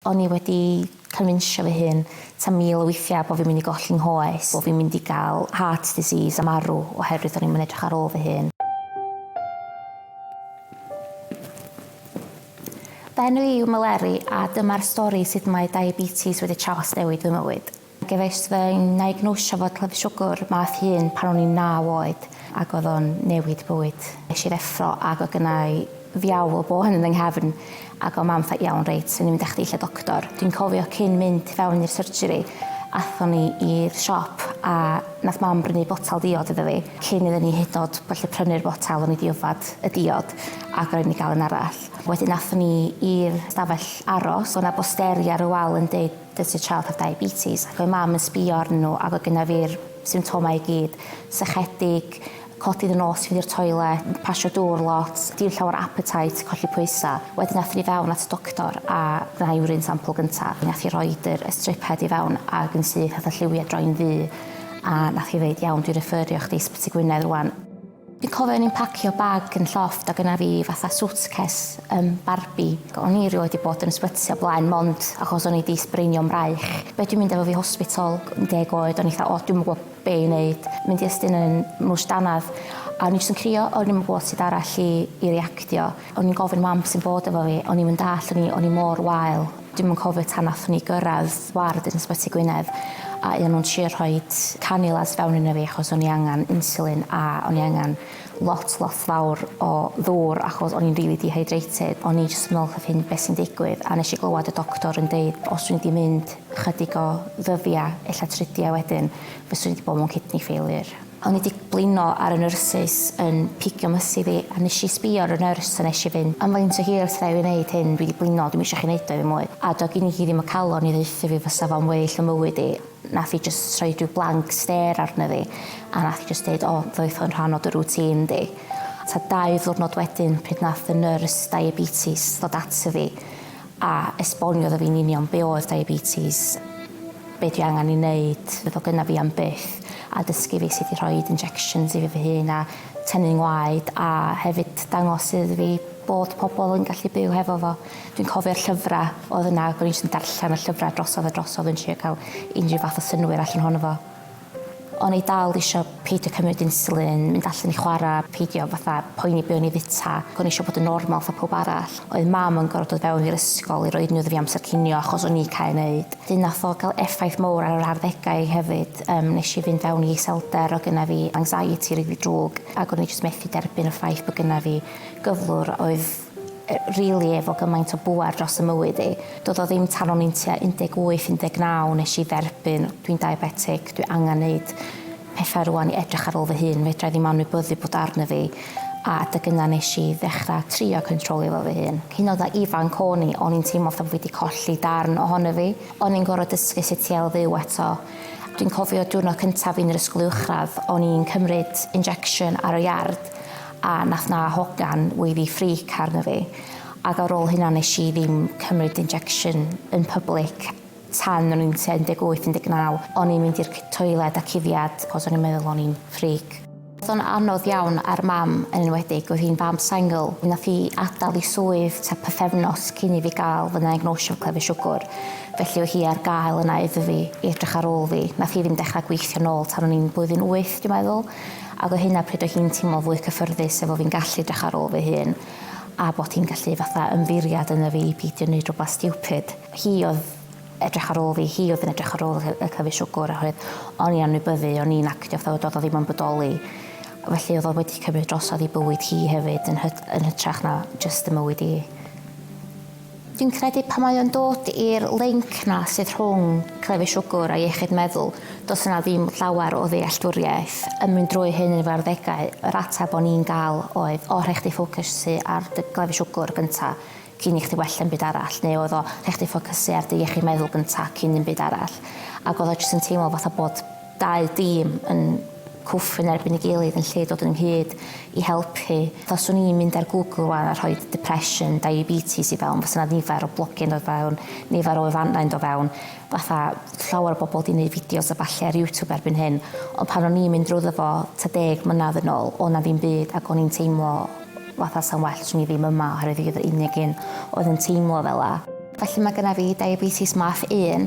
O'n i wedi cynfinsio fy hun ta mil o weithiau bo' fi'n mynd i golli 'nghoes, bo' fi'n mynd i gael heart disease a marw oherwydd o'n i'm yn edrych ar ôl fy hun. Fy enw i yw Meleri a dyma'r stori sut mae diabetes wedi trawsnewid fy mywyd. Gefais fy niagnosio fod clefyd siwgr math un pan o'n i'n naw oed ac oedd o'n newid bywyd. Es i'r effro ac oedd gynna i fiawl o bôn yn fy nghefn ac oedd mam fatha 'iawn reit, rwy'n mynd â chdi lle doctor'. Dwi'n cofio cyn mynd i fewn i'r surgery aethon ni i'r siop a nath mam brynu botel diod iddo fi cyn iddyn ni hyd yn o'd gallu prynu'r botel o'n i 'di yfed y diod ac rhaid i ni gael un arall. Wedyn aethon ni i'r stafell aros, oedd 'na bosteri ar y wal yn deud Does y child have diabetes? ac oedd mam yn sbio arnyn nhw ac oedd gynnaf fi'r symptomau i gyd, sychedig, codi fy nos i fynd i'r toilet, pasio dŵr lot, dim llawer appetite, colli pwysau. Wedyn athon ni fewn at y doctor a gwna urine sample gynta. Nath hi roid yr y strip head i fewn ag yn syth nath y lliwiau droi'n ddu a nath hi ddeud iawn dwi refferio chdi i Ysbyty Gwynedd rŵan. Fi'n cofio o'n i'n pacio bag yn llofft a gyna fi fatha suitcase um, Barbie. O'n i rioed wedi bod yn ysbyty o blaen mond achos o'n i wedi sbreinio'n braich. Be dwi'n mynd efo fi hospital, yn deg oed, o'n i fatha, o, dwi'n gwybod be i wneud. Mynd i ystyn yn mwys danaf. A o'n i jyst yn crio, o'n i'n gwybod sut arall i, i reactio. O'n i'n gofyn mam sy'n bod efo fi, o'n i'n mynd all, o'n i, o'n i mor wael. Dwi'm yn cofio tan nathon ni gyrradd ward yn Ysbyty Gwynedd a o'n nhw'n trio rhoi cannulas fewn ina fi achos o'n i angen insulin a o'n i angen lot lot fawr o ddŵr achos o'n i'n rili dehydrated. O'n i jyst yn meddwl wrth fy hun be sy'n digwydd a nes i glywed y doctor yn deud os dwi'n mynd i mynd chydig o ddyddia' ella tridia' wedyn fyswn i 'di bod mewn kidney failure. O'n i 'di blino ar y nyrsys yn pigio mys i fi a nes i sbio ar y nyrs a nes i fynd, Am faint o hir wrtha i fi neud hyn, dwi 'di blino, dwi'm isio chi neud o i fi mwy. A do' gin i hi ddim y calon i ddaethu fi fysa fo'n well ym mywyd i. Nath hi jyst rhoi rhyw blank stêr arna fi a nath hi jyst deud, O, ddoeth hwn rhan o dy rŵtîn di. Tua dau ddiwrnod wedyn pryd nath y nyrs diabetes ddod ato fi a esboniodd o fi'n union be oedd diabetes, be dwi angen i neud, fydd o gyna fi am byth, a dysgu fi sut i rhoid injections i fi fy hun a tynnu ngwaed a hefyd dangos iddo fi bod pobl yn gallu byw hefo fo. Dwi'n cofio'r llyfra oedd yna ac o'n i jyst yn darllen y llyfra drosodd a drosodd yn trio ca'l unrhyw fath o synwyr allan ohono fo. O'n i dal isio peidio cymryd insulin, mynd allan i chwara, peidio fatha poeni be o'n i fita, ac o'n i isio bod yn normal fatha pawb arall. Oedd Mam yn gor'o' dod fewn i'r ysgol i roi unrhyw ddifi amser cinio achos o'n i cau neud. 'Dyn nath o ga'l effaith mowr ar yr arddegau i hefyd, yym nesh i fynd fewn i iselder, o' gynna fi anxiety rili drwg, ac o'n i jyst methu derbyn y ffaith bo' gynna fi gyflwr oedd rili efo gymaint o bŵer dros 'y mywyd i. Do'dd o ddim tan o'n i'n tua 18, 19 nesh i dderbyn, dwi'n diabetic, dwi angan neud pethau rŵan i edrych ar ôl fy hun, fedrai ddim anwybyddu bod o arna fi, a adeg yna nesh i ddechra trio cyntrolio fo fy hun. Hyd yn o'd a ifanc o'n i, o'n i'n teimlo fatha bo' fi 'di colli darn ohono fi. O'n i'n gor'o' dysgu sut i ail-fyw eto. Dwi'n cofio diwrnod cyntaf fi yn yr ysgol uwchradd, o'n i'n cymryd injection ar y iard, A nath 'na hogan weiddi freak arno fi ag ar ôl hynna nes i ddim cymryd injection yn public tan o'n i'n tua 18, 19. O'n i'n mynd i'r toiled a cufiad cos o'n i'n meddwl o'n i'n freak. O'dd o'n anodd iawn ar mam yn enwedig, oedd hi'n fam sengl. Nath hi adal i swydd tua pythefnos cyn i fi ga'l fy naegnosio 'fo clefyd siwgwr, felly oedd hi ar gael yna iddo fi i edrych ar ôl fi. Nath hi ddim dechra gweithio nôl tan o'n i'n blwyddyn wyth dwi'n meddwl. Ac o hynna pryd oedd hi'n teimlo fwy cyffyrddus efo fi'n gallu edrych ar ôl fy hun a bod hi'n gallu fatha ymddiriad ynddo fi i beidio neud rwbath stiwpid. Hi oedd edrych ar ôl fi, hi oedd yn edrych ar ôl y y cyfi siwgwr oherwydd o'n i'n anwybyddu, o'n i'n actio fatha fod oedd o ddim yn bodoli. Felly oedd o wedi cymryd drosodd i bywyd hi hefyd yn hyt- yn hytrach na jyst 'y mywyd i. Fi'n credu pan mae o'n dod i'r linc 'na sydd rhwng clefyd siwgr a iechyd meddwl, does yna ddim llawer o ddealltwriaeth yn mynd drwy hyn yn fy arddegau. Yr ateb o'n i'n gael oedd, o, rhaid chdi ffocysu ar dy glefyd siwgr gynta' cyn i chdi wella dim byd arall, neu oedd o, rhaid chdi ffocysu ar dy iechyd meddwl gynta' cyn dim byd arall. Ac oedd o jyst yn teimlo fatha bod dau dîm yn cwffio yn erbyn ei gilydd yn lle dod ynghyd i helpu. Fatha 'swn i'n mynd ar Google rwan a rhoi depression, diabetes i fewn, fasa 'na nifer o blogiau'n dod fewn, nifer o wefannau yn dod fewn, fatha llawer o bobl 'di neud fideos a ballu ar YouTube erbyn hyn, ond pan o'n i'n mynd drwyddo fo ta deg mlynadd yn ôl, o' 'na ddim byd ac o'n i'n teimlo fatha 'sa'n well 'swn i ddim yma oherwydd fi oedd yr unig un oedd yn teimlo fela. Felly mae gynna fi diabetes math un.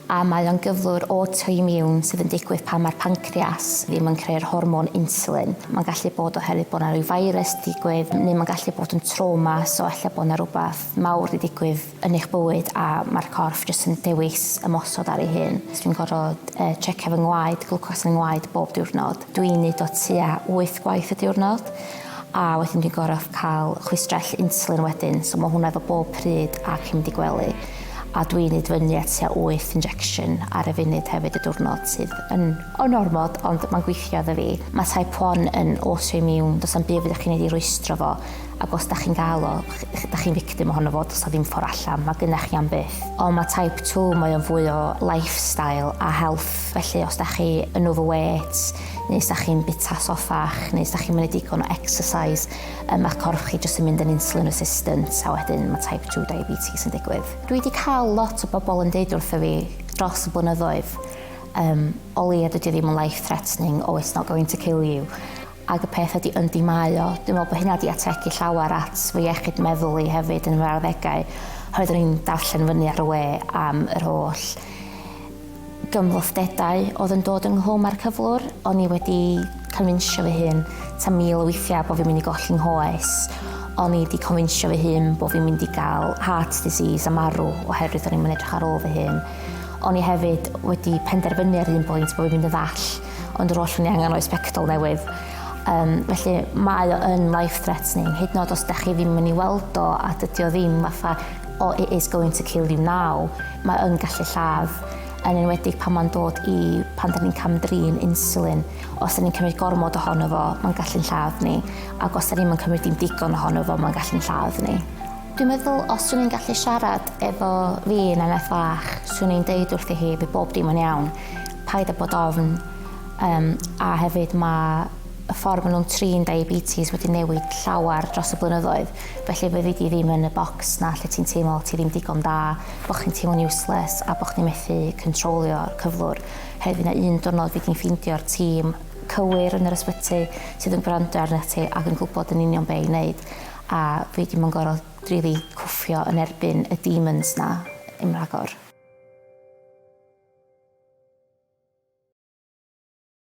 A mae o'n gyflwr autoimmune sydd yn digwydd pan mae'r pancreas ddim yn creu'r hormon insulin. Mae'n gallu bod oherwydd bod 'na ryw virus 'di digwydd neu mae'n gallu bod yn trauma, so ella bod 'na rywbeth mawr 'di digwydd yn eich bywyd a mae'r corff jyst yn dewis ymosod ar ei hun. Dwi'n gorfod yy tsiecio fy ngwaed, glwcos fy ngwaed bob diwrnod. Dwi'n neud o tua wyth gwaith y diwrnod. A wedyn dwi'n gor'o' ca'l chwistrell insulin wedyn, so ma' hwnna efo bob pryd ac i mynd i gwely, a dwi'n neud fyny at tua wyth injection ar y funud hefyd y diwrnod, sydd yn yn ormod ond ma'n gweithio iddo fi. Ma' type one yn autoimmune, do's 'na'm byd fedrwch chi neud i rwystro fo, ac os 'dach chi'n ga'l o, ch- ch- 'dach chi'n victim ohono fo, do's 'na ddim ffor allan, ma' gynna chi am byth. Ond ma' type two, mae o'n fwy o lifestyle a health, felly os 'dach chi yn overweight, neu os da chi'n bita soffach, neu os da chi'n mynd digon o exercise, um, mae'ch corff chi jyst yn mynd yn insulin resistant, a wedyn mae type 2 diabetes yn digwydd. Dwi wedi cael lot o bobl yn deud wrtho fi dros y blynyddoedd, um, o leia dydy ddim yn life threatening, oh it's not going to kill you. Ac y peth ydy yn di mae o, dwi'n meddwl bod hynna wedi ategu llawer at fy iechyd meddwl i hefyd yn fy arddegau, oherwydd o'n i'n darllen fyny ar y we am yr holl gymhlethdedau oedd yn dod ynghlwm â'r cyflwr, o'n i wedi confinsio fy hun ta mil o weithiau bod fi'n mynd i golli nghoes, o'n i wedi confinsio fy hun bod fi'n mynd i gael heart disease a marw oherwydd o'n i'm yn edrych ar ôl fy hun. O'n i hefyd wedi penderfynu ar un pwynt bod fi'n mynd yn ddall, ond yr oll o'n i angen oedd sbectol newydd. Um, felly mae o yn life threatening, hyd yn oed os da chi ddim yn ei weld o a dydy o ddim fatha o it is going to kill you now, mae yn gallu lladd, yn enwedig pan mae'n dod i pan da ni'n camdrin insulin. Os da ni'n cymryd gormod ohono fo, mae'n gallu'n lladd ni, ac os da ni'n cymryd dim digon ohono fo, mae'n gallu'n lladd ni. Dwi'n meddwl, os dwi'n i'n gallu siarad efo fi yn eneth fach, swn i'n deud wrthi hi, fe bob dim yn iawn, paid a bod ofn, um, a hefyd mae y ffordd maen nhw'n trin diabetes wedi newid llawer dros y blynyddoedd. Felly fyddi di ddim yn y bocs 'na lle ti'n teimlo ti ddim digon da, bo' chdi'n teimlo'n useless a bo' chdi'n methu cyntrolio'r cyflwr. Hyd yn oed un diwrnod fydd di'n ffeindio'r tîm cywir yn yr ysbyty sydd yn gwrando arnat ti ac yn gwybod yn union be' i neud a fydd di'm yn gor'o' rili cwffio yn erbyn y demons 'na yn rhagor.